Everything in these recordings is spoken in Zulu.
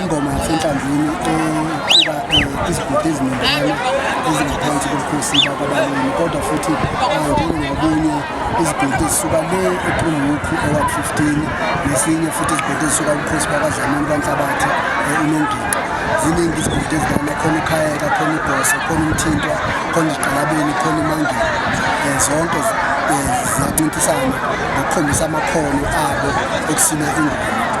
Ingoma yasenhlanzini equba izigodi eziningana ezingaphansi kobukhosi bakwabalimi kodwa futhi njengokunye izigodi ezisuka le ephumukhu eward 15 nesinye futhi izigodi ezisuka kubukhosi bakwadlamini kwanhlabathi unongini ziningi izigodi ezidlala khona ukhayeka khona ibhoso khona umthintwa khona iziqalabeni khona imangeni um zonke ziyacintisana ngokukhombisa amakhono abo okusina ingoma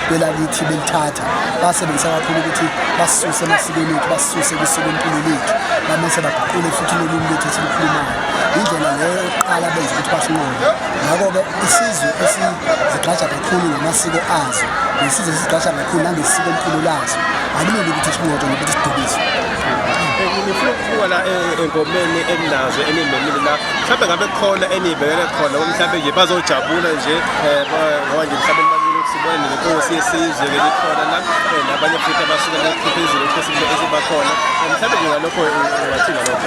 belalithi belithatha basebenzisa kakhulu ukuthi basisuse emasikweni ethu basisuse kusuke empilo lethu bamese baguqule futhi lolimi lethu esilukhulumayo indlela leyo yokuqala benza ukuthi basinqobe ngakho-ke isizwe esizigqaja kakhulu ngamasiko azo nesizwe esizigqaja kakhulu nangesiko mpilo lazo akuleli ukuthi sinqotshwe nokuthi sidukiswe ngifuna ukubuka la eh, engomeni eninazo enimemile la mhlawumbe ngabe khona eniyibekele khona mhlawumbe nje bazojabula nje Eh, ngoba nje mhlawumbe nibalulekile ukuthi sibone nenkosi yesizwe ke likhona la eh, nabanye futhi abasuke bephezulu ukuthi esibakhona eh, mhlawumbe nje ngalokho wathi ngalokho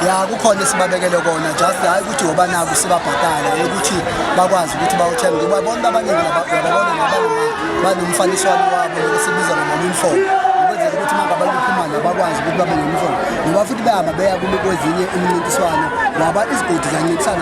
ya kukhona esibabekele kona just hayi ukuthi ngoba naku sibabhadala ukuthi bakwazi ukuthi bawuthenge ngoba bonke abaningi lababona nabanye banomfaniswano wabo nokusibiza ngama-uniform ukwenzela ukuthi mangabantu bephumane bakwazi ukuthi babe ne-uniform ngoba futhi behamba beya kwezinye imincintiswano ngoba izigodi zancintisana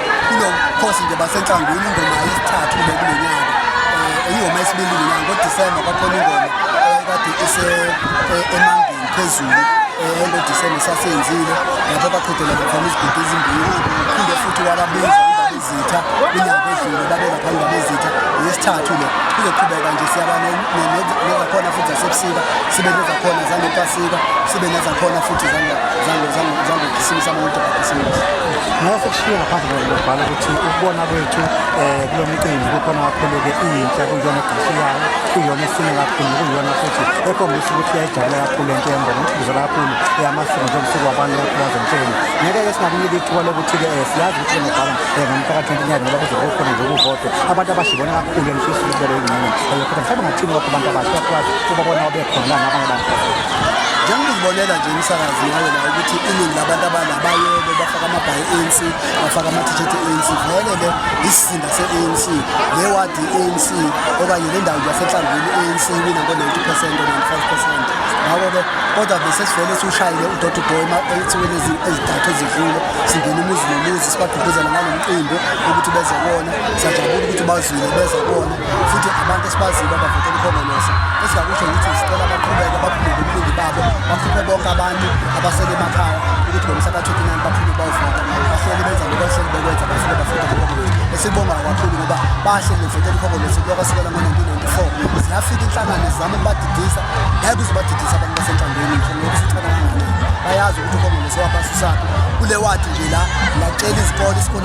kulo mkhosi nje basenhlangwini ingoma yesithathu le kulo nyaka um ingoma yesibili kulo nyaka ngodisemba kwakhona ingoma eh, kade isemangeni eh, phezulu um ngodisemba sasenzile lapho baqhudela bakhona izigodi ezimbili phinde futhi wababiza izitha inyanga edlule babeka phambi kwabezitha yesithathu le kuzoqhubeka nje siyaba nezakhona futhi zasebusika sibe nezakhona zangepasika sibe nezakhona futhi zangokhisimusa bonke bakhisimusa ngeke sekushiye ngaphandle ngokubhala ukuthi ukubona kwethu um kulo mcimbi kukhona kakhulu-ke iyintsha kuyona egqashi yayo kuyona esine kakhulu kuyona futhi ekhombisa ukuthi yayijabule kakhulu into yembona ukugizela kakhulu yamasiko njengosuku wabantu yaphulazentsheni ngeke-ke singakunika ithuba lokuthi-ke um siyazi ukuthi nobhala um ngomphakathi wentinyaka ngoba kuzobe kukhona nje ukuvotwa abantu abashibona kakhulu engifisa ukuthi bebe ingxenye eyokhona mhlawumbe ngathini lokho abantu abasha bakwazi ukuba bona obekhona nabanye abantu njengoba uzibonela nje umsakazi ngayo la ukuthi iningi labantu abala bayebe bafaka amabhayi e-anc bafaka ama-t-shirt e-anc vele-ke isizinda se-anc le wadi i-anc okanye le ndawo yasenhlangwini i-anc wina ngo-90 percent o-95 percent ngakho-ke kodwa besesivele siwushayile udoti boy ensukwini ezidathu ezidlule singena umuzi nomuzi sibagqugquzela ngalo mqimbi ukuthi beze kona siyajabula ukuthi bazwile beze kona futhi abantu esibaziyo abavotela ukhongolose esingakusho ukuthi sicela baqhubeke baphume ngobuningi babo bakhuphe bonke abantu abasele emakhaya ukuthi ngomhla ka-29 baphume bayovota bahleli benza lokho ehleli bekwenza bafike bafike ukhongolose esibongayo kakhulu ngoba bahle bevotela ukhongolose kuloka sukela ngo-1994 ziyafika inhlangano zizama ukubadidisa ngeke uze ubadidise abantu basenhlangweni nje ngoba usithana kangakanani bayazi ukuthi ukhongolose waphasi usaphi kule wadi nje la ngacela izikole isikole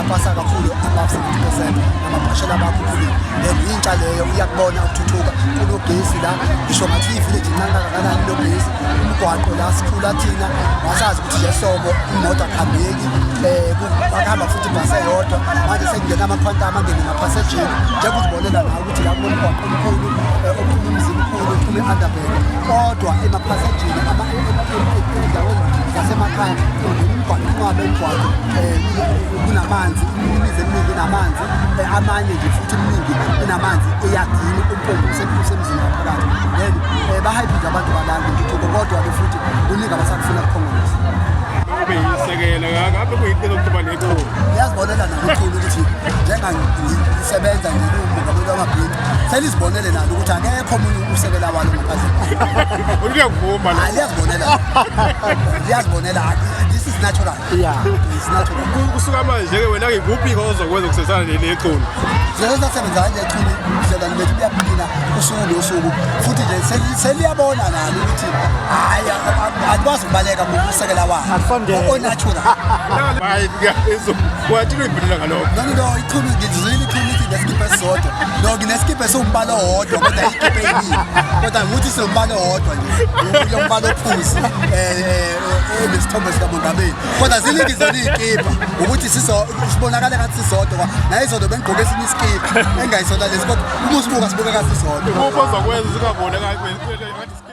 apasa kakhulu above 70 percent amabhashela bakhuphuli then yintsha leyo iyakubona ukuthuthuka kunogesi la ngisho ngathi ivillage incane kangakanani logesi umgwaqo la sikhula thina wasazi ukuthi nje sobo imoto akuhambeki um akuhamba futhi ibhasi eyodwa manje sekungena amakhwanta amangeni ngaphasejini njengokuzibonela nawo ukuthi la kunomgwaqo omkhulu eh, ophuma umzini mkhulu ophuma e-underbel kodwa emaphasejini endaweni zasemakhaya umgwaqo ungabe umgwaqo um kunamanzi imizi eminingi inamanzi eh, amanye nje futhi iminingi inamanzi eyagini umpombo usemzini ngaphakathi then um bahayiphi nje abantu balanda intuthuko kodwa-ke futhi kuningi abasakufuna kukhongolisa kube yisekelo ngabe kuyiqiniso ngiyazibonela nokukhulu ukuthi njengangisebenza ngiwumongameli wamabhini selizibonele nalo ukuthi akekho omunye usekela walo ngaphandleliyazibonela liyazibonela this is natural kusuka manje-ke wena ngikuphi-ke ozokwenza ukusebenzisana nelequlu sesasebenzana nequlu hlelani bethu kuyaphila usuku nosuku futhi nje seliyabona nalo ukuthi hayi akwazi ukubaleka ngokusekela wakho onatural hayi ngiyaphezu wathi uyibhulula ngalokho nani no iqhulu ngizwile iqhulu ithi ngesikiphe sodwa no nginesikiphe sombala owodwa kodwa isikiphe yini kodwa nguthi sombala owodwa nje uyo mbala ophuzi eh, eh, eh nesithombe sika Mongameli kodwa ziningi zona izikipa ukuthi siso sibonakala ngathi sisodwa naye izodwa bengigqoke esinye isikiphe engayisona lesi kodwa uma usibuka sibuka ngathi sisodwa uma uzokwenza singabonakali